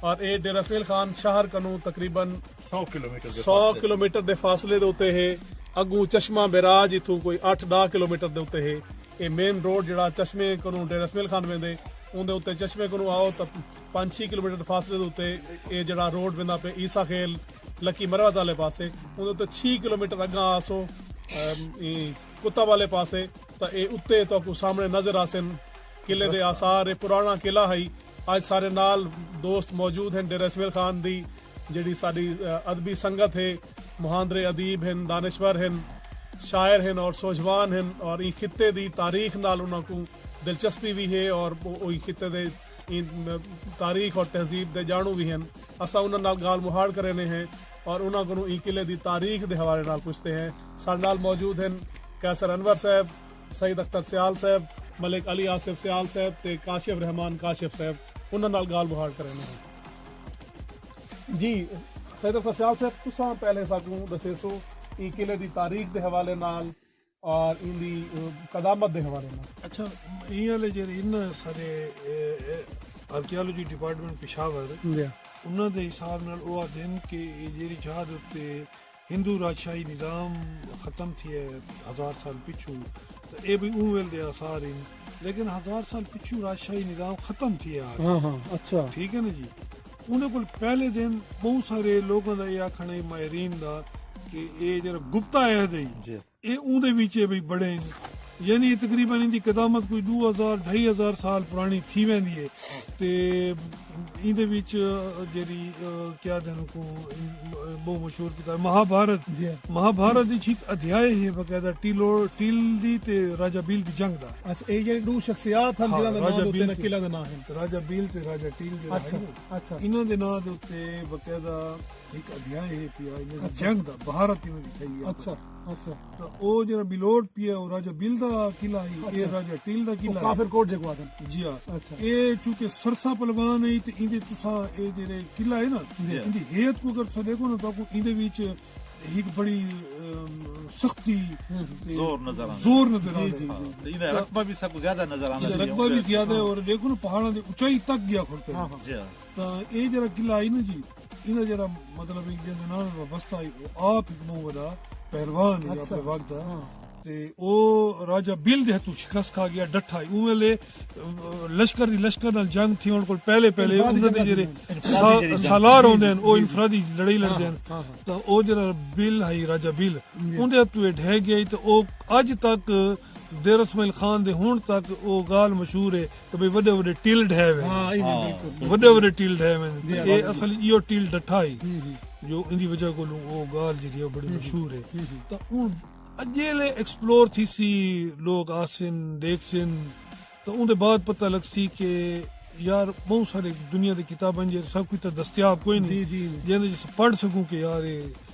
اور اے ڈیرہ اسمعیل خان شہر کنوں تقریبا سو کلومیٹر دے فاصلے دے اتے ہے اگوں چشمہ بیراج اتھوں کوئی اٹھ ڈاہ کلومیٹر دے اتے ہے اے مین روڈ جڑا چشمے کنوں ڈیرہ اسمعیل خان ویندے اون دے اتے چشمے کنوں آؤ تاں پانچ چھی کلومیٹر دے فاصلے دے اتے اے جڑا روڈ ویندا پہ عیسی خیل لکی مروت آلے پاسے اون دے اتے چھی کلومیٹر اگاں آسو کتب آلے پاسے تاں اے اتے تاں کو سامنے نظر آسن قلعے دے آثار اے پرانا قلعہ ہائی اج سارے نال دوست موجود ہن ڈیرہ اسمعیل خان دی جیڑھی ساڈی ادبی سنگت ہے مہاندرے ادیب ہن دانشور ہن شاعر ہن اور سوجھوان ہن اور ایں خطے دی تاریخ نال انہاں کوں دلچسپی وی ہے اور او ایں خطے دے ایں تاریخ اور تہذیب دے جانڑوں وی ہن اساں انہاں نال گالھ مہاڑ کرینے ہیں اور انہاں کولوں ایں قلعے دی تاریخ دے حوالے نال پچھتے ہیں ساڈے نال موجود ہن قیصر انور صاحب سید اختر سیال صاحب، ملک علی آصف سیال صاحب تے کاشف رحمان کاشف صاحب انہاں نال گالھ مہاڑ کریندے ہن۔ جی سید اختر سیال صاحب تساں پہلے ساکوں ڈسیسو ایں قلعے دی تاریخ دے حوالے نال اور ایندی قدامت دے حوالے نال۔ اچھا ایں آلے جیڑھے ہن نا ساڈے آرکیالوجی ڈیپارٹمنٹ پشاور انہاں دے حساب نال او آکھدے ہن کہ اے جیڑھی جھا دے اتے ہندو راجشاہی نظام ختم تھیے ہزار سال پچھو تے اے بھئی اوں ویل دے آثار ہن لیکن ہزار سال پچھو راجشاہی نظام ختم تھیے آ ہاں ہاں اچھا ٹھیک ہے نا جی انہاں کول پہلے دن بہت سارے لوگاں دا اے آکھن ہے ماہرین دا کہ اے جڑا گپتا عہد ہے جی اے اوندے وچ اے بھئی بڑے ہن۔ یعنی اے تقریبا ایندی قدامت کوئی ڈو ہزار ڈھائی ہزار سال پرانی تھی ویندی اے تے ایندے وچ جیڑھی کیا آدھن اوکوں بہوں مشہور کتاب مہا بھارت مہا بھارت وچ ہک ادھیائے ہے باقاعدہ ٹیل دی تے راجہ بیل دی جنگ دا۔ اچھا اے جیڑھے ڈو شخصیات ہن جنہاں دے ناں دے اتے انہاں قلعہ دے ناں ہن۔ راجہ بیل تے راجہ ٹیل جیڑھے ہن انہاں دے ناں دے اتے باقاعدہ۔ ہک ادھیائے ہے پیا انہاں دی جنگ دا بھارت انہاں دی تھئی ہے اچھا اچھا تو او جڑا بلوٹ پیا او راجہ بل دا قلعہ ہے اے راجہ ٹل دا قلعہ ہے کافر کوٹ جیکو آدم جی ہاں اے چونکہ سرسا پلوان ہے تے ایندے تساں اے جڑے قلعہ ہے نا ایندی ہیت کو اگر تساں دیکھو نا تو کو ایندے وچ ہک بڑی سختی زور نظر آندا زور نظر آندا جی، جی، جی۔ ایندے رقبہ بھی سب زیادہ نظر آندا رقبہ بھی زیادہ ہے اور دیکھو نا پہاڑاں دے اونچائی تک گیا کھڑتے ہیں ہاں، ہاں۔ جی ہاں۔ تا اے جڑا قلعہ ہے نا جی ایندا جیڑھا مطلب ہے جیندے نال وابستہ ہئی او آپ ہک بہوں وڈا پہلوان ہی اپنے وقت دا تے او راجہ بل دے ہتھوں شکست کھا گیا ڈٹھا ہی اون ویلے لشکر دی لشکر نال جنگ تھی ہن کول پہلے پہلے انہاں دے جڑے سالار ہوندے ہیں او انفرادی لڑائی لڑدے ہیں تا او جڑا بل ہئی راجہ بل اون دے ہتھوں ڈھے گیا تے او اج تک دیر اسماعیل خان دے ہن تک او گال مشہور ہے کہ بھئی وڈے وڈے ٹیل ڈھے وے وڈے وڈے ٹیل ڈھے وے جی، اے اصل ایو ٹیل ڈٹھا ہی جو ان دی وجہ کولوں او گال جڑی ہے بڑی مشہور ہے تا اون اجیلے ایکسپلور تھی سی لوگ آسن دیکھ سن تا اون دے بعد پتہ لگ سی کہ یار بہت سارے دنیا دے کتاباں جے سب کچھ تا دستیاب کوئی نہیں جی، جی، جی۔ جیندے جس پڑھ سکوں کہ یار اے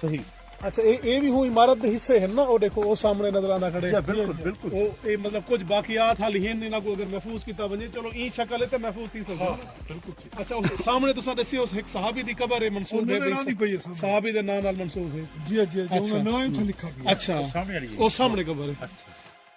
صحیح اچھا اے اے وی ہوں عمارت دے حصے ہن نا او ڈیکھو او سامنے نظر آندا کھڑے جی بالکل بالکل او اے مطلب کچھ باقیات حال ہن انہاں کو اگر محفوظ کیتا ونجے چلو ایں شکل ہے تے محفوظ تھی سکدے ہاں بالکل ٹھیک اچھا اس سامنے تساں دسیو اس ایک صحابی دی قبر ہے منسوب ہے بھئی صحابی دے نام نال منسوب ہے جی جی جی انہاں نام تھا لکھا گیا اچھا او سامنے قبر ہے اچھا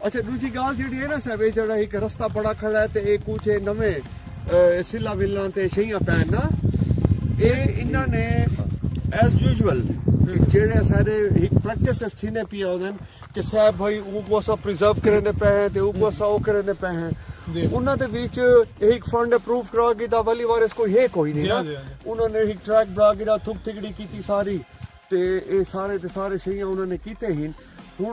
اچھا ڈوجھی گالھ جیڑھی ہے نا صاحب اے جیڑھا ہک رستہ بڑا کھڑا ہے تے اے کوچے نویں سلا ملاں تے شیاں پین نا اے انہاں نے ایز یوزول جیڑھے سارے ہک پریکٹس اس تھینے پیا ہودن کہ صاحب بھائی او کو سا پریزرو کرے دے پے ہیں تے او کو سا او کرے دے پے ہیں جی۔ انہاں دے بیچ ایک فنڈ اپروو کرا گی دا ولی وار اس کو ہے کوئی نہیں جی، نا جی، انہاں نے ایک ٹریک بنا گی دا تھک تھکڑی کیتی ساری تے اے سارے تے سارے شیاں انہاں نے کیتے ہیں ہن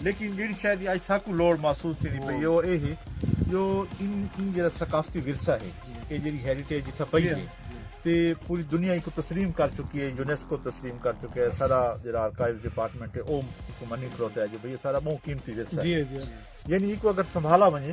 لیکن جیڑھی شے دی اج ساکوں لوڑ محسوس تھیندی پئی ہے او اے ہے جو ان ایں جیڑھا ثقافتی ورثہ ہے اے جیڑھی ہیریٹیج اتھاں پئی ہے تے پوری دنیا ایکوں تسلیم کر چکی ہے یونیسکو تسلیم کر چکے ہے سارا جیڑھا آرکائیوز ڈیپارٹمنٹ ہے او ایکوں منی کھلوتا ہے جو بھئی اے سارا بہوں قیمتی ورثہ ہے یعنی ایکوں اگر سنبھالا ونجے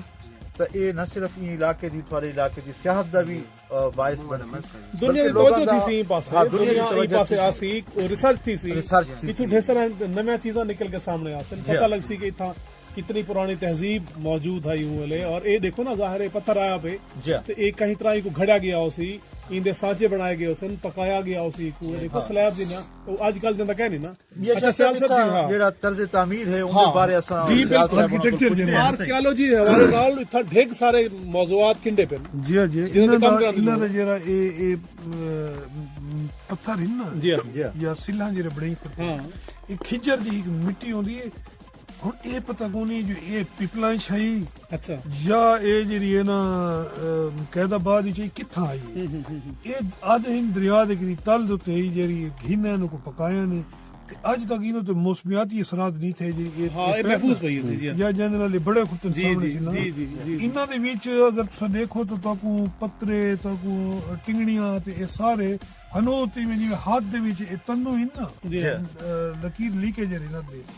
تاں اے نہ صرف ایں علاقے دی تھوڑے علاقے دی سیاحت دا وی باعث بن سی دنیا دی توجہ تھی سی پاسے ہاں، دنیا دی پاسے آ سی ریسرچ تھی سی ریسرچ تھی اتھوں ڈھیر سارا نویاں چیزاں نکل کے سامنے آ سن جی۔ پتہ لگ سی کہ اتھاں کتنی پرانی تہذیب موجود ہے یوں لے اور اے دیکھو نا ظاہر ہے پتھر آیا پہ جی۔ تے اے کہیں طرح کو گھڑا گیا ہو سی ایندے سانچے بنائے گئے ہو سن پکایا گیا ہو سی کو دیکھو ہاں۔ سلیب جی نا او اج کل جندا کہہ نہیں نا جیڑا طرز تعمیر ہے اون دے بارے اساں آرکیالوجی دے حوالے نال اتھاں ڈھیگ سارے موضوعات کنڈے پن جی جی انہاں دا انہاں دا جیڑا اے اے پتھر ہن نا جی یا سلھاں جیڑے بنڑائی کھڑے اے کھجر دی ہک مٹی ہوندی اے ہن اے پتہ کونی جو اے پیپلائن شاہ ہی یا اے جیڑی اے نا قید آباد وچ ہی کتھاں آئی اے اے آدھے ہن دریا دے کری تل دے اتے ہی جیڑی گھن اینو کو پکایا نے تے اج تک اینو تے موسمیاتی اثرات نی تھے جیڑی اے ہاں اے محفوظ پئی ہوندی جی یا جیندے نال بڑے خطن سامنے سی نا جی جی جی انہاں دے وچ اگر تساں دیکھو تو تاکو پترے تاکو ٹنگڑیاں تے اے سارے ہنو تے جیویں ہاتھ دے وچ اے تنو ہن نا لکیر لیکے جیڑی نا دے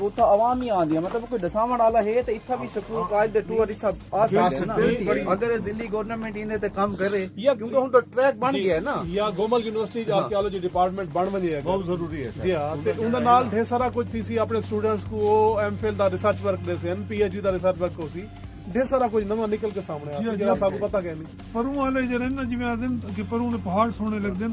اتھاں عوام ہی آندی ہے مطلب کوئی ڈساونڑ آلا ہے تے اتھاں وی سکول کالج دے ٹور اتھاں آ سکدے نا اگر دلی گورنمنٹ ایندے تے کم کرے کیونکہ ہن تے ٹریک بن گیا ہے نا یا گومل یونیورسٹی اچ آرکیالوجی ڈیپارٹمنٹ بن ونجے اگر بہت ضروری ہے جی ہاں تے اوندے نال ڈھیر سارا کچھ تھی سی اپنے اسٹوڈنٹس کو او ایم فل دا ریسرچ ورک ڈے سین پی ایچ ڈی دا ریسرچ ورک ہوسی ڈھیر سارا کچھ نواں نکل کے سامنے آسی جیڑھا اساکوں پتہ کینی پروں والے جیڑھے نا جویں آکھدن کہ پروں والے پہاڑ سوہنے لگدن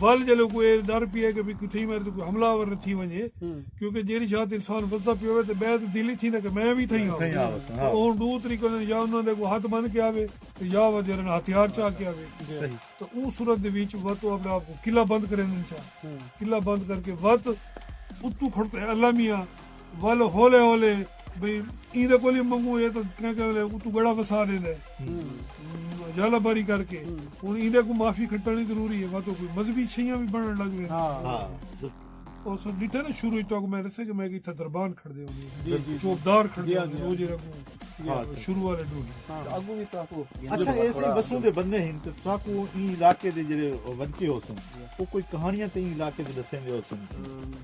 ول جلو کوئی اے ڈر پی ہے کہ بھئی کوئی تھئی میرے تے کوئی حملہ آور نہ تھی ونجے کیونکہ جیڑی شاہ تے انسان وسدا پیا ہووے تے بے تے دل ای تھیندا کہ میں وی تھئی آوساں تے او ہن ڈو طریقے ہوندے یا انہاں دے اگوں ہتھ بن کے آوے تے یا وا جیڑھے نال ہتھیار چا کے آوے تے اوں صورت دے وچ وا تو اپنے آپ کوں قلعہ بند کریندن چا قلعہ بند کر کے وا تے اتوں کھڑ تے اللہ میاں ول ہولے ہولے بھئی ایں دے کول ہی منگوں اے تاں کہیں کہیں ویلے اتوں گڑا وسا ڈیندا ہے یا لباری کر کے ہن ایں دے کو معافی کھٹنی ضروری ہے واتو کوئی مذہبی چھیاں بھی بنن لگ وین ہاں او سو ڈٹھے نا شروع تک میں رسے کہ میں کہ تھا دربان کھڑ دے ہوندے چوبدار کھڑ دے ہوندے روزے رکھوں شروع والے ڈو اگوں بھی تاکو اچھا ایسے بسوں دے بندے ہیں تے تاکو ایں علاقے دے جڑے ونچے ہو سن او کوئی کہانیاں تے ایں علاقے دے دسیں دے ہو سن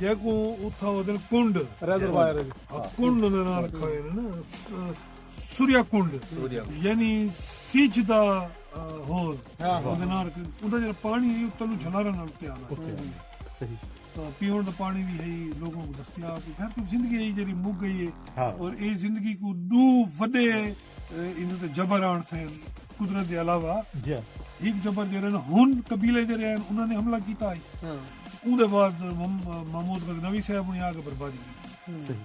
جیکوں اتھاں ودن کنڈ ریزروائر کنڈ دے نال رکھا ہوئے نا سوریا کنڈ یعنی سیچ دا ہوز اودے نال اوندا جڑا پانی ہے اتھاں نو جھلارا نال تیار ہے صحیح تو پیون دا پانی بھی ہے لوگوں کو دستیاب ہے ہر زندگی ہے جڑی مک گئی ہے اور اے زندگی کو دو وڈے ایندے تے جبر آن تھے قدرت دے علاوہ ہک جبر جڑے نا ہن قبیلے جڑے ہیں انہاں نے حملہ کیتا ہے اون دے بعد محمود غزنوی صاحب نے آ کے بربادی کی صحیح